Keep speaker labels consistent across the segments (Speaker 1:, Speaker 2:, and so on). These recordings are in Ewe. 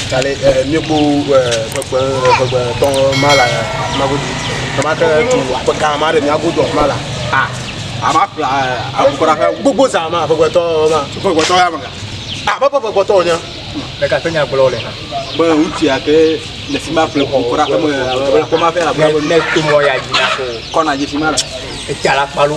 Speaker 1: Tale eh, míeku eh, kpekpe kpekpe tɔ ma la ma godo tɔma ke tu aƒe gã ma ɖe mía godo ma la a ama kpla akukura ƒe gbogbo zã ma kpekpetɔ ma kpekpetɔ ya me a bɛ bɛ kpekpetɔ nya ɖeka te nya
Speaker 2: gblɔ le na be ŋutsu ya ke
Speaker 3: le fi ma ƒle kukura ƒe me ƒe ma ƒe abe ne to mɔ ya
Speaker 2: dzi na ko kɔna dzi fi ma la
Speaker 3: etsala kpalo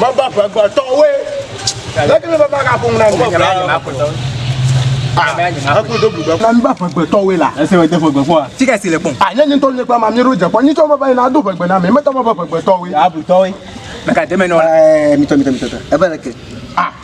Speaker 1: Meva ƒe gbetɔwoe. Leke meva va gaƒo ŋu na mi? Meva ƒe gbetɔwoe. Eku do blu be. Na meva ƒe gbetɔwoe la. Ese wɔ de ƒe gbe kpɔa.
Speaker 3: Tika si le kpɔm. A nye
Speaker 2: nye ŋutɔ nye kpɔ ama
Speaker 1: mi
Speaker 2: ɖo
Speaker 1: dze kpɔ. Nyi tsɔ meva yina do ƒe gbe na mi. Meta meva ƒe gbetɔwoe. Abutɔwoe.
Speaker 3: Meka deme nɔ.
Speaker 2: Ɛɛ mitɔ mitɔ mitɔ tɔ.
Speaker 3: Eva leke. A.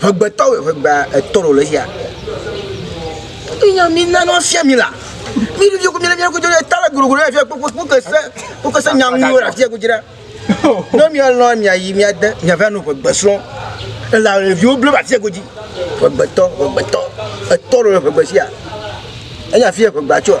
Speaker 3: Ŋegbetɔ wòe ŋegbe etɔ ɖo le xia. Minya mina no afia mi la. Mi ɖevi ko mi le ko jole ta le gro gro afia ko ko ke se ko ke se nya nu la afia ko jira. No mi alɔ mi ayi mi ade mi ava no ŋegbe srɔ̃. La le viwo ble afia ko ji. Ŋegbetɔ ŋegbetɔ etɔ ɖo le ŋegbe sia. Enya afia ŋegbe atsoa.